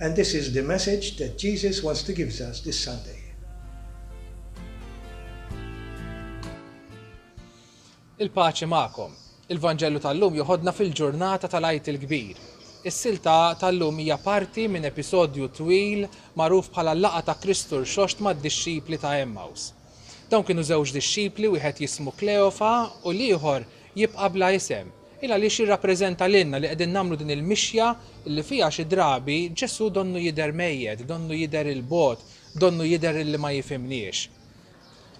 and this is the message that Jesus wants to gives us this Sunday. Il-paċi magħkom. Il-Vanġellu tal-lum joħodna fil-ġurnata tal-Għid il-Kbir. Is-silta tal-lum hija parti minn episodju twil magħruf bħala l-laqa ta' Kristu rxoxt mad-dixxipli ta' Emmaus. Dawn kienu żewġ dixxipli wieħed jismu Kleofa u l-ieħor jibqa' bla isem. Hi għaliex jirrappreżenta lilna li qegħdin nagħmlu din il-mixja li fiha xi drabi Ġesù donnu jidher mejjet, donnu jidher 'il bogħod, donnu jidher illi ma jifhimniex.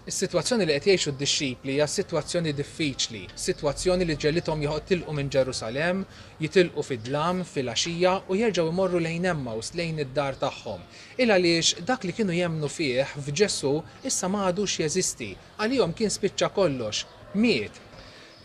Is-sitwazzjoni li qed jgħixu d-dixxipli hija sitwazzjoni diffiċli, sitwazzjoni li ġegħlithom joħtilqu minn Ġerusalemm, jitilqu fid-dlam, filgħaxija, u jerġgħu jmorru lejn Emmaus, lejn id-dar tagħhom. Hi għaliex dak li kienu jemmnu fih, f'Ġesù, issa ma għadux jeżisti. Għalihom kien spiċċa kollox. Miet.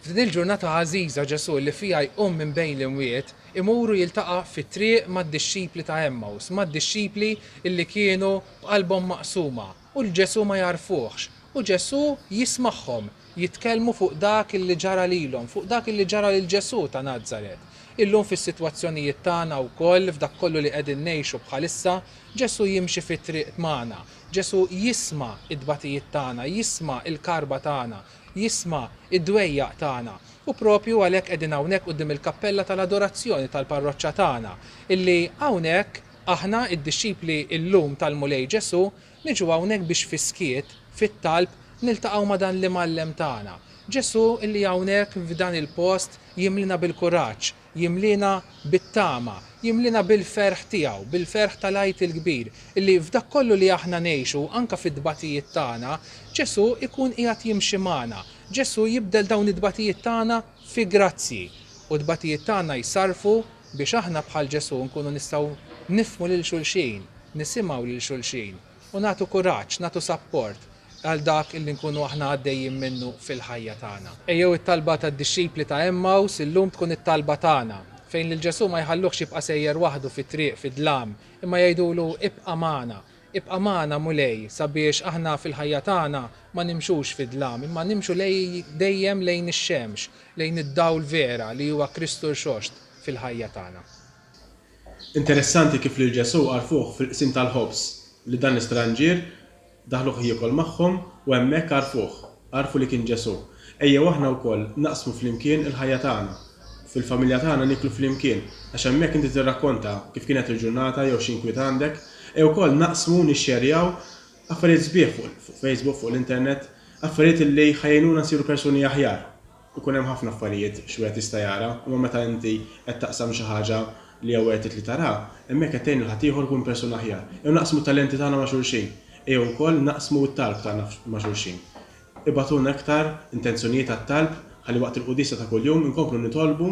F'din il-ġurnata għażiża Ġesù li fiha jqum minn bejn l-imwiet, imur u jiltaqa' fit-triq mad-dixxipli ta' Għemmaws, mad-dixxipli li kienu b'qalbhom maqsuma u li Ġesù ma jagħrfuhx. U Ġesù jismagħhom jitkellmu fuq dak li ġara lilhom, fuq dak li ġara lil Ġesù ta' Nazaret. Illum fis-sitwazzjonijiet tagħna wkoll, f'dak kollu li qegħdin ngħixu bħalissa, Ġesù jimxi fit-triq magħna. Ġesù jisma' t-tbatijiet tagħna, jisma' l-karba tagħna, Jisma' d-dwejjaq tagħna. U proprju għalhekk qegħdin hawnhekk quddiem il-kappella tal-adorazzjoni tal-parroċċa tagħna, illi hawnhekk aħna, id-dixxipli llum tal-Mulej Ġesù, niġu hawnhekk biex fis-skiet, fit-talb, niltaqgħu ma' dan l-Imgħallem tagħna. Ġesù illi hawnhekk f'dan il-post jimlina bil-kuraġġ. Jimliena bit-tama, jimliena bil-ferħ tiegħu, bil-ferħ tal-Għid il-Kbir, illi f'dak kollu li aħna ngħixu, anke fit-tbatijiet tagħna, Ġesù jkun qiegħed jimxi magħna. Ġesù jibdel dawn it-tbatijiet tagħna fi grazzji. U t-tbatijiet tagħna jsarrfu biex aħna bħal Ġesù nkunu nistgħu nifhmu lil xulxin, nisimgħu lil xulxin. u nagħtu kuraġġ, nagħtu sapport għal dak li nkunu aħna għaddejjin minnu fil-ħajja tagħna. Ejjew it-talba tad-dixxipli ta' Għemmaws illum tkun it-talba tagħna, fejn lil Ġesù ma jħalluhx jibqa' sejjer waħdu fit-triq fid-dlam, imma jgħidulu, Ibqa' magħna, ibqa' magħna, Mulej, sabiex aħna fil-ħajja tagħna ma nimxux fid-dlam, imma nimxu dejjem lejn ix-xemx, lejn id-dawl vera li huwa Kristu Rxoxt fil-ħajja tagħna. Interessanti kif lil Ġesù għarfuh fil-qsim tal-ħobż li dan l-istranġier daħluh jiekol magħhom u hemmhekk għarfuh, għarfu li kien Ġesù. Ejjew aħna wkoll naqsmu flimkien il-ħajja tagħna. Fil-familja tagħna nieklu flimkien, għax hemmhekk inti tirrakkonta kif kienet il-ġurnata jew xi inkwiet għandek. Ejjew ukoll naqsmu u nixxerjaw affarijiet sbieħ fuq Facebook, fuq l-internet, affarijiet li ħa jgħinuna nsiru persuni aħjar. Ikun hemm ħafna affarijiet x'wieħed jista' jara, imma meta inti qed taqsam xi ħaġa li hija worth it li taraha, hemm hekk qed tgħin lil ħaddieħor ikun persuna aħjar. Ejjew naqsmu t-talenti tagħna ma' xulxin. Ejjew ukoll naqsmu t-talb tagħna ma' xulxin. Ibagħtulna iktar intenzjonijiet għat-talb ħalli waqt il-quddiesa ta' kuljum inkomplu nitolbu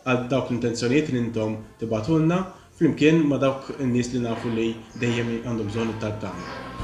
għal dawk l-intenzjonijiet li intom tibagħtulna, flimkien ma' dawk in-nies li nafu li dejjem għandhom bżonn it-talb tagħna.